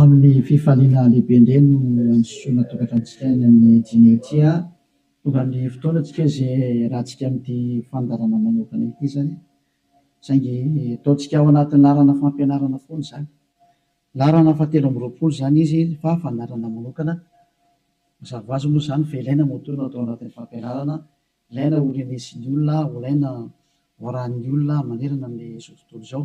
Amin'ny fifaliana lehibe indray no androsoana tokantranontsika any amin'ny Dimy ity a! Tonga ny fotoana tsika izay hiarahantsika amin'ity fandaharana manokana ity izany, saingy ataontsika ao anatin'ny laharana fampianarana foana izany. Laharana fahatelo amby roapolo izany izy fa fandaharana manokana. Mazava ho azy moa izany fa ilaina moa toa no atao anatin'ny fampianarana, ilaina ho renesin'ny olona, ho ilaina ho arahin'ny olona manerana amin'izao tontolo izao.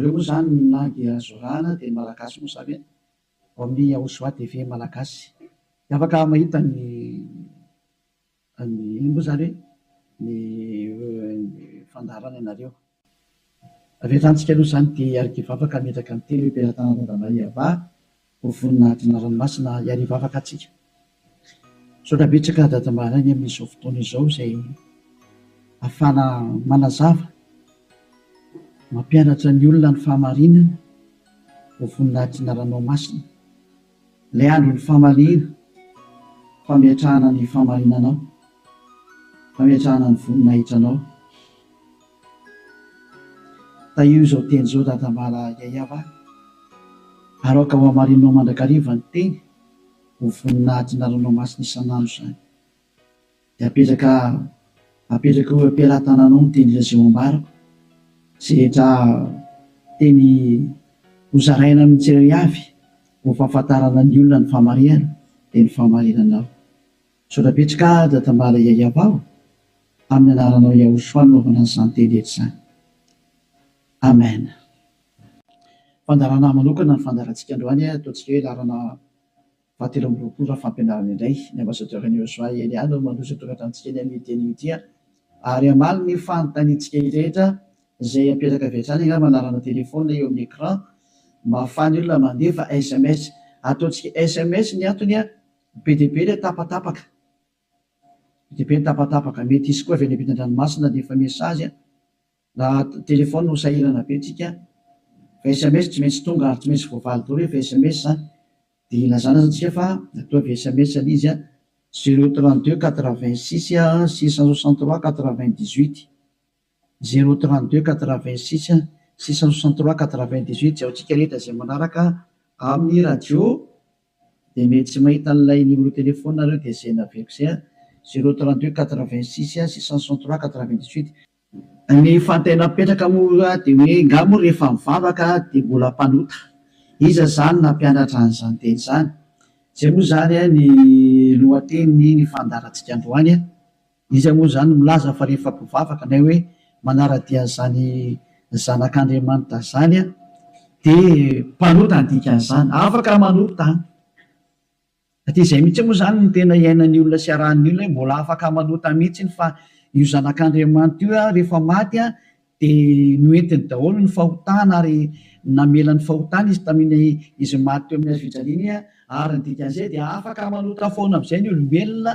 Reo moa zany na dia zorana dia ny malagasy moa zany e! Ao amin'ny Yahushua TV malagasy dia afaka mahita ny ny inona moa zany hoe ny fandaharana ianareo. Avy hatramintsika aloha zany dia hiarikivavaka hametraka ny teny hoe Mpiara-tana Randamaiavah Ho vonona hadina ranomasina hiariva afaka atsika. Misaotra betsaka Dada Mbaraigny amin'izao fotoana izao izay afahana manazava, mampianatra ny olona ny fahamarinana. Ho vonona hadina ranomasina. Ilay andron'ny famaliana, fametrahana ny fahamarinanao, fametrahana ny voninahitranao. Tahio izao teny izao dadambala Yaya va? Aroaka ho hamarininao mandrakariva ny teny ho vonona adina ranomasina isan'andro izany. Dia apetraka apetraka eo am-pelatananao ny teny Lazao ambarako izay rehetra teny ho zaraina amin'ny tsirairavy ho fahafantarana ny olona ny fahamarihana dia ny fahamarinanao. Misaotra betsaka Dadambala Yayabao amin'ny anaranao Yahoshua no naovanao izany teny rehetra izany. Amen. Fandaharana manokana ny fandaharantsika androany a, ataontsika hoe laharana faha telo amby roapolo raha fampianarana indray. Ny Ambassadeur an'i Yosua Elia no mandroso atongatra antsika eny amin'ity anio ity a. Ary hamaly ny fanontaniantsika rehetra izay apetraka avy hatrany angamba ny laharana téléphone eo amin'ny écran mba ahafahan'ny olona mandefa sms. Ataontsika sms ny antony a. Be dia be ilay tapatapaka. Be dia be ny tapatapaka. Mety hisy koa avy any ampitan-dranomasina dia efa message na téléphone no sahirana be tsika. Fa sms tsy maintsy tonga ary tsy maintsy voavaly daholo rehefa sms dia ilazana aza tsika fa toa avy sms ilay izy. Zero trente deux quatre vingt six six cent soixante trois quatre vingt dix huit. Zéro trente deux quatre vingt six six cent soixante trois quatre vingt dix huit Jaontsika rehetra izay manaraka amin'ny radio dia mety tsy mahita an'ilay numéro téléphone nareo dia izay naveriko izay an! Zéro trente deux quatre vingt six six cent soixante trois quatre vingt dix huit. Ny fantay napetraka moa dia hoe nga moa rehefa mivavaka dia mbola mpanota? Iza izany nampianatra an'izany teny izany? Izay moa izany ny lohatenin'ny fandaharantsika androany an! Iza moa izany milaza fa rehefa mpivavaka nay hoe manara-dia an'izany Zanak'Andriamanitra izany dia mpanota ny dikan'izany? Afaka manota izany. Dia izay mihitsy moa izany no tena iainan'ny olona sy iarahan'ny olona hoe mbola afaka manota mihitsy fa io Zanak'Andriamanitra io rehefa maty dia noentiny daholo ny fahotana ary namela ny fahotana izy tamin'ny izy maty teo amin'ny hazofijaliana ary ny dikan'izay dia afaka manota foana amin'izay ny olombelona.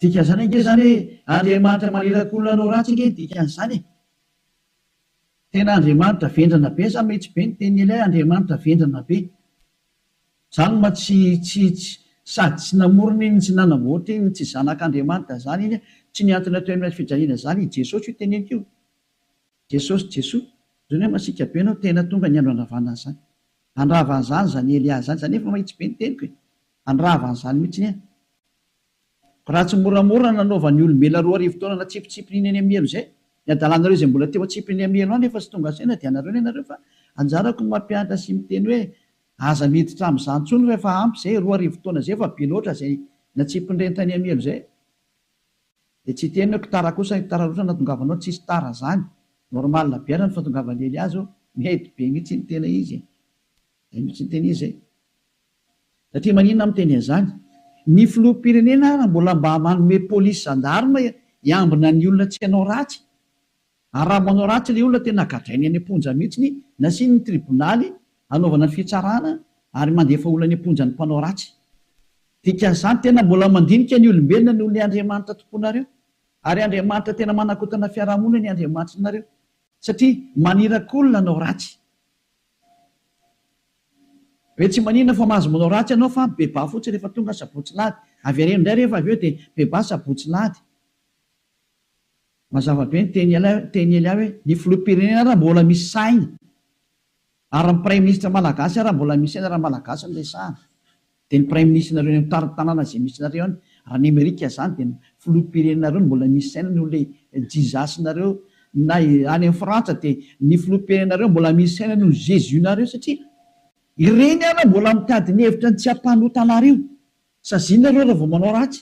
Dikan'izany ange izany hoe Andriamanitra maniraka olona hanao ratsy ange ny dikan'izany e! Tena Andriamanitra vendrana be sa mety be ny tenin'i Elia Andriamanitra vendrana be? Zany ma tsy tsy tsy sady tsy namorona iny tsy nanamboatra iny tsy zanak'Andriamanitra zany iny tsy niantona teo amin'ilay fijaliana zany i Jesosy io teneniko io Jesosy Jesoa zany hoe masiaka be anao tena tonga ny andro handravana an'izany handrava an'izany zany Elia zany za nefa mahitsy be ny teniko e handrava an'izany mihitsy anie Raha tsy moramora nanaova ny olombelona roa arivo taona natsipitsipiny iny any amin'ny helo izay, ny hadalanareo izay mbola teo antsipiny amin'ny helo any efa tsy tonga saina dia anareo ny anareo fa anjarako ny mampianatra sy miteny hoe aza miditra amin'izany intsony fa efa ampy izay, roa arivo taona izay efa be loatra izay natsipin'ireny tany amin'ny helo izay dia tsy hiteny hoe ktara kosa, ktara loatra ny nahatongavanao, tsisy tara izany, normal be ara ny fahatongavan'i Elias ô, mety be mihitsy iny tena izy e, izay mihitsy ny tena izy e. Satria maninona aho miteny an'izany? Ny filoham-pirenena ary mbola mba manome polisy zandarma hiambina ny olona tsy hanao ratsy? Ary raha manao ratsy ilay olona tena gadrainy any am-ponja mihitsy, nasiany ny tribonaly hanaovana ny fitsarana ary mandefa olona any am-ponja ny mpanao ratsy. Dikan'izany tena mbola mandinika ny olombelona noho ilay Andriamanitra tomponareo. Ary Andriamanitra tena manakotana fiarahamonina ny Andriamanitrinareo. Satria maniraky olona hanao ratsy. Be tsy maninona fa mahazo manao ratsy ianao fa bebà fotsiny rehefa tonga sabotsy lahady. Avereno indray rehefa avy eo dia bebà sabotsy lahady. Mazava be ny teny Elia hoe ny filoham-pirenena ary mbola misy saina ary ny praiminisitra malagasy ary mbola misy saina raha malagasy no resahana. Dia ny praiminisitrinareo eny amin'ny tanàna izay misy anareo any, raha any Amerika izany dia ny filoham-pirenenareo no mbola misy saina noho ilay Jesus-nareo, na any amin'ny Frantsa dia ny filoham-pirenenareo mbola misy saina noho ny Jesus-nareo satria ireny ary mbola mitady ny hevitra ny tsy hampanota anareo. Saziana ireo raha vao manao ratsy.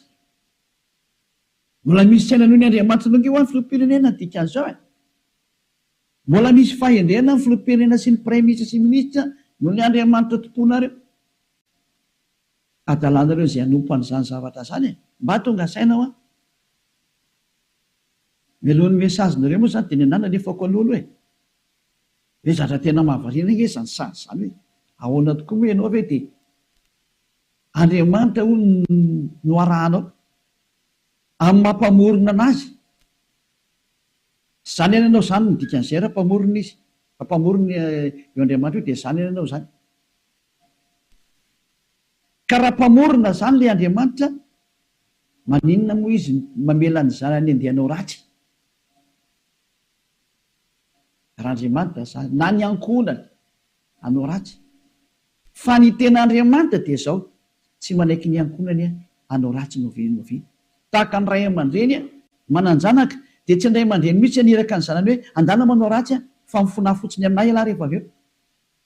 Mbola misy saina noho ny Andriamanitra Longo io any filoham-pirenena ny dikan'izao e. Mbola misy fahendrena ny filoham-pirenena sy ny praiminisitra sy ny minisitra noho ny Andriamanitra tomponareo. adalanareo izay hanompo an'izany zavatra izany e! Mba tonga saina hoa! Mialohan'ny message nareo moa izany dia ny anah nalefako aloha aloha e! Ve zatra tena mahavariana ange izany sazy izany hoe ahoana tokoa moa ianao ve dia Andriamanitra hono no arahanao amin'ny maha mpamorona an'azy? Zany ihany ianao zany no dikan'izay raha mpamorona izy, raha mpamorona io Andriamanitra io dia zany ihany ianao zany. Ka raha mpamorona izany ilay Andriamanitra, maninona moa Izy mamela ny zanany andeha hanao ratsy? Raha Andriamanitra izany, na ny ankohonany hanao ratsy. Fa ny tena Andriamanitra dia izao, tsy manaiky ny ankohonany hanao ratsy noviana noviana. Tahaka ny ray aman-dreny manan-janaka, dia tsy ny ray aman-dreny mihitsy haniraka ny zanany hoe, Andana manao ratsy fa mifona fotsiny amin'ahy ialahy rehefa avy eo.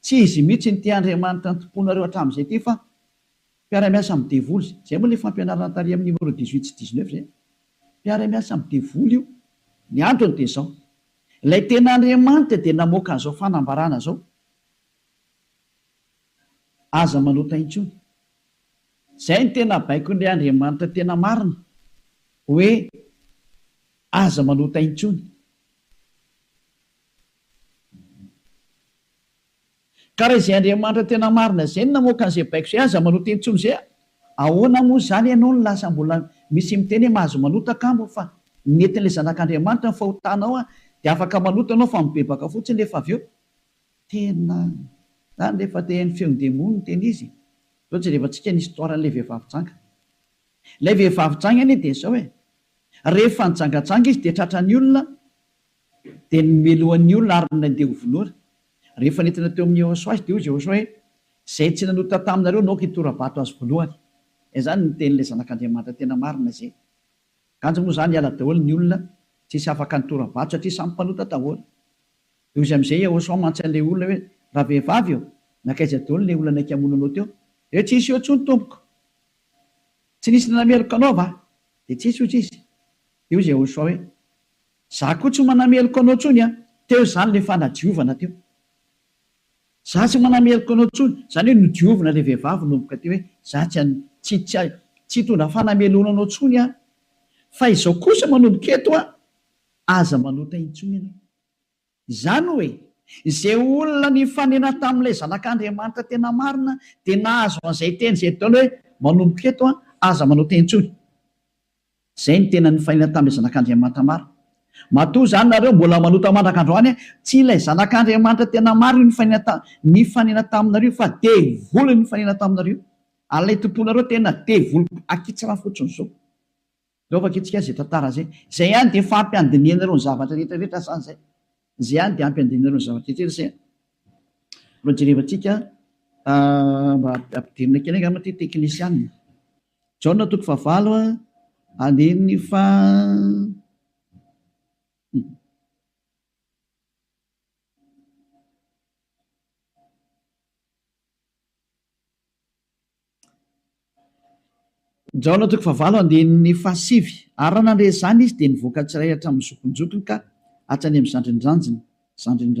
Tsy izy mihitsy no te Andriamanitra ny tomponareo hatramin'izay ity fa mpiara-miasa amin'ny devoly izay. Izay moa ilay fampianarana tary amin'ny numéro dix huit sy dix neuf izay. Mpiara-miasa amin'ny devoly io. Ny antony dia izao. Ilay tena Andriamanitra dia namoaka an'izao fanambarana izao, Aza manota intsony. Izay no tena baikon'ilay Andriamanitra tena marina, hoe aza manota intsony. Ka raha izay Andriamanitra tena marina izay no namoaka an'izay baiko izay, aza manota intsony izay a! Ahoana moa izany ianao no lasa mbola misy miteny hoe mahazo manota angamba fa netin'ilay Zanak'Andriamanitra ny fahotanao a! Dia afaka manota ianao fa mibebaka fotsiny nefa avy eo tena zany rehefa te haino feon'ny demony no tena izy. Izao jerevantsika ny histoire an'ilay vehivavy janga. Ilay vehivavy janga anie dia izao e! Rehefa nijangajanga izy dia tratran'ny olona, Dia nomelohany ny olona ary nandeha ho vonoina. Rehefa nentina teo amin'i Jehosoa azy, dia hoy Jehosoa hoe, Izay tsy nanota taminareo naoka hitora-bato azy voalohany. Izany no tenin'ilay Zanak'Andriamanitra tena marina izay. Kanjo moa izany hiala daholo ny olona, tsy hisy afaka nitora-bato satria samy mpanota daholo. Dia hoy amin'izay Jehosoa mantsy an'ilay olona hoe, Ravehivavy ô, nankaiza daholo ilay olona naika hamono anao teo? Dia tsy nisy eo intsony, tompoko. Tsy nisy nanameloka anao va? Dia tsy nisy, hoy izy. Dia hoy Jehosoa hoe, Za koa tsy manameloka anao tsony an! Teo izany le fanadiovana teo. Za tsy manameloka anao tsony, zany hoe nodiovina le vehivavy nomboka teo hoe za tsy an, tsy, tsy, tsy hitondra fanameloana anao tsony aho. Fa izao kosa manomboka eto an, aza manota intsony ianao. Izany hoe, izay olona nifanena tamin'ilay Zanak'Andriamanitra tena marina dia nahazo an'izay teny izay Daoly hoe, Manomboka eto, aza manao teny intsony. Izay no tena nifanena tamin'ilay Zanak'Andriamanitra marina. Matoa izany nareo mbola manota mandraka androany, tsy ilay Zanak'Andriamanitra tena marina io nifanena nifanena taminareo io fa devoly no nifanena taminareo io. Ary ilay tomponareo tena devoly akitsra fotsiny izao. Aleo vakintsika izay tantara izay. Izay ihany dia efa ampy handinihana ireo ny zavatra rehetra rehetra sa izay? Izay ihany dia ampy handinihana ireo ny zavatra rehetra rehetra izay? Mba jerevantsika mba ampidirina kely angamba ity teknisianina. Jaona toko fahavalo andininy faha Jaona toko fahavalo andininy fahasivy Ary raha nandre izany izy, dia nivoaka tsirairay hatramin'ny zokinjokiny ka hatrany amin'ny zandrin'ny zandriny, zandrin'ny zandriny.